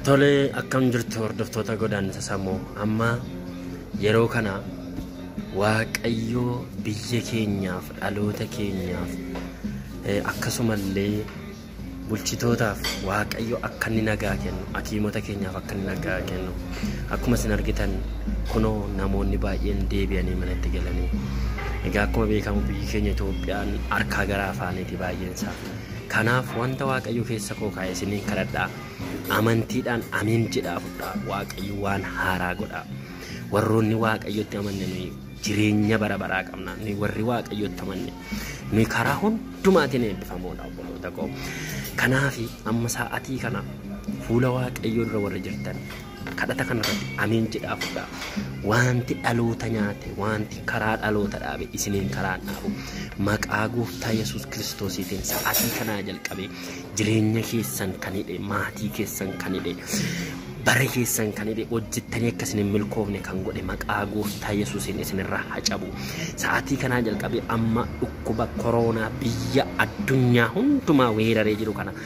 Tole akkam jirtu hordoftoota godaannisa sammuu amma yeroo kana waaqayyoo biyya keenyaaf dhaloota keenyaaf eh, akkasumallee bulchitootaaf waaqayyo akka inni nagaa kennu hakiimota keenyaaf akka inni nagaa kennu akkuma isin argitan kunoo namoonni baay'een deebi'anii manatti galanii egaa akkuma beekamu biyyi keenya Itoophiyaan harkaa gara afaaniiti baay'een isaa. Kanaaf wanta Waaqayyo keessa koo kaa'e isiniin kadhadha. Amantiidhaan amiin jedhaa fudhaa. Waaqayyo waan haaraa godha. Warroonni Waaqayyotti amanne nuyi jireenya bara baraa qabna. Nuyi warri Waaqayyotti amanne nuyi karaa hundumaatiin eebbifamoodha obboloota koo. Kanaaf amma sa'atii kana fuula Waaqayyoo dura warri jirtan Kadhata kana irratti ameen jedhaa fudhaa. Wanti dhaloota nyaate, wanti karaa dhaloota dhaabe isiniin karaan dhaabu. Maqaa gooftaa Yesuus Kiristoosiitiin sa'atii kanaa jalqabee jireenya keessan kan hidhe, maatii keessan kan hidhe, bara keessan kan hidhe, hojjettanii akka isin hin milkoofne kan godhe maqaa gooftaa Yesuusiin isinirraa haa cabu. Sa'atii kanaa jalqabee amma dhukkuba koroonaa biyya addunyaa hundumaa weeraree jiru kana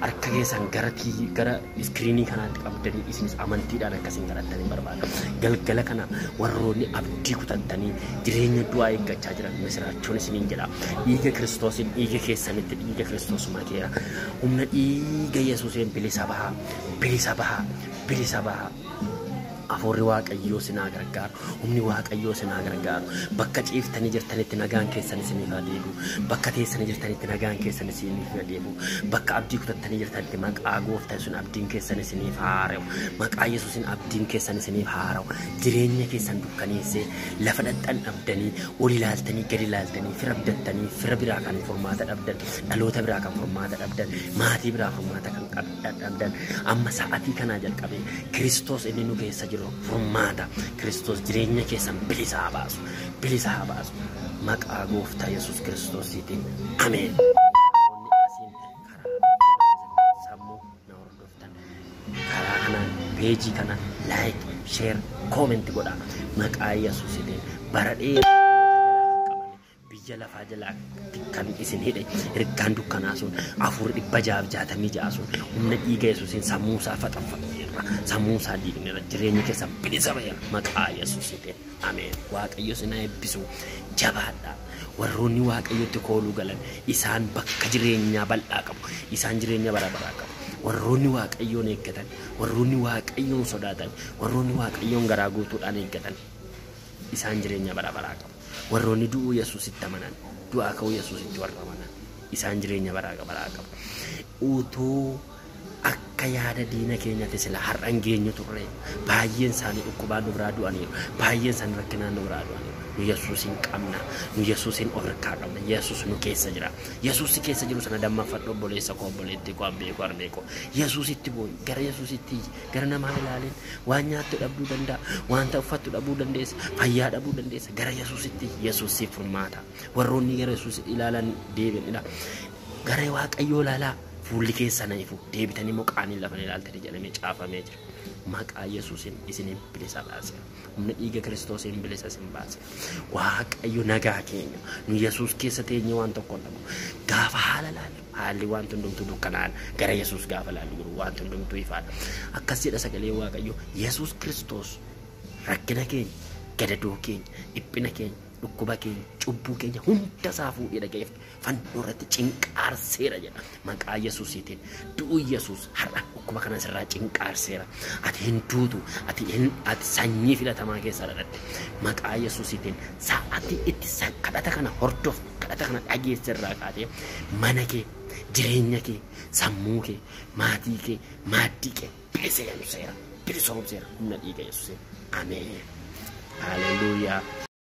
harka keessan gara TV gara iskiriinii kanaatti qabdanii isinis amantiidhaan akkasiin kadhattanii barbaada. Galgala kana warroonni abdii kutattanii jireenya du'aa eeggachaa jiran misiraachoon isiniin jedha. Dhiiga Kiristoosiin dhiiga keessanitti dhiiga Kiristoos makeera. Humna dhiiga Yesuuseen bilisa bahaa, bilisa bahaa, bilisa bahaa. Afuurri Waaqayyoo sin haa gargaaru. Humni Waaqayyoo sin haa gargaaru. Bakka ciiftanii jirtanitti nagaan keessan isiniif haa deebi'u. Bakka teessanii jirtanitti nagaan keessan isiniif haa deebi'u. Bakka abdii kutattanii jirtanitti maqaa gooftaa sun abdiin keessan isiniif haa haara'u. Maqaa Yesuusin abdiin keessan isiniif haa haara'u. Jireenya keessan dukkaneessee lafa dhaqxan dhabdanii ol ilaaltanii gadi ilaaltanii fira abdattanii fira biraa kan furmaata dhabdan dhaloota biraa kan furmaata dhabdan maatii biraa furmaata kan qabdan. dadhabdan amma sa'atii kanaa jalqabee Kiristoos inni nu keessa jiru furmaata Kiristoos jireenya keessan bilisa haa baasu bilisa haa baasu maqaa gooftaa Yesuus Kiristoosiitiin ameen. Namoonni asiin karaa sammuu na hordoftan karaa kanaan peejii kana laayik sheer koomenti godhaa maqaa Yesuusiitiin bara dheeraa. biyya lafaa jalaatti kan isin hidhe ergaan dukkanaa sun afur dhibba jaaf jaatamii ja'a sun humna dhiiga yesuusiin sammuu isaa faxanfaxeerra sammuu isaa diigneera jireenya keessan bilisa ba'eera maqaa yesuusiitiin ameen waaqayyo isin haa eebbisu jabaadhaa warroonni waaqayyotti kooluu galan isaan bakka jireenyaa bal'aa qabu isaan jireenya bara baraa qabu warroonni waaqayyoon eeggatan warroonni waaqayyoon sodaatan warroonni waaqayyoon garaa guutuudhaan eeggatan isaan jireenya bara baraa qabu. Warroonni du'uu Yesuusitti amanan, du'aa ka'uu Yesuusitti warra amanan, isaan jireenya baraa baraa qabu. Utuu akka yaada diina keenyatti sila har'a hin geenyu turre. Baay'een isaanii dhukkubaan nu biraa du'aniiru. Baay'een isaanii rakkinaan nu biraa du'aniiru. Nu Yesuusiin qabna. Nu Yesuusiin of harkaa qabna. Yesuus nu keessa jira. Yesuus si keessa jiru sana dammaffadhu obboleessa koo obboleettii koo abbee koo harmee koo. Yesuusitti boo'i. Gara Yesuusitti iyyi. gara namaan ilaalin waan nyaattu dhabduu danda'a wanta uffattu dhabuu dandeessa fayyaa dhabuu dandeessa gara yesuusitti yesuus siif furmaata warroonni gara yesuus ilaalan deebi'anidha gara waaqayyoo ilaalaa fuulli keessan ifu deebitanii immoo qaaniin lafa hin ilaaltanii jedhamee caafamee jira maqaa yesuusin isiniin bilisa baasera humna dhiiga kiristoosiin bilisa isin baasera waaqayyo nagaa keenya nu yesuus keessa teenyee waan tokko hin dhabnu gaafa haala laallu Haalli wanti hundumtuu dukkanaa'aadha. Gara Yesuus gaafa ilaallu garuu wanti hundumtuu ifaadha. Akkas jedha sagalee Waaqayyoo Yesuus Kiristoos rakkina keenya, gadadoo keenya, dhiphina keenya, dhukkuba keenya, cubbuu keenya hunda isaa fuudhee dhaga'eef fannoo irratti cinqaarseera jedha. Maqaa Yesuusiitiin du'uu Yesuus Har'a dhukkuba kana sirraa cinqaarseera. Ati hin duutu. Ati hin ati sanyii filatamaa keessaa dhaladhe. Maqaa Yesuusiitiin sa'aatii itti sa- kadhata kana hordofte, kadhata kana dhageesse irraa kaatee mana kee, jireenya kee, sammuu kee, maatii kee, maaddii kee bilisoomseera. Bilisoomseera humna dhiiga Yesuusiin. Ameen. Haleluuyaa.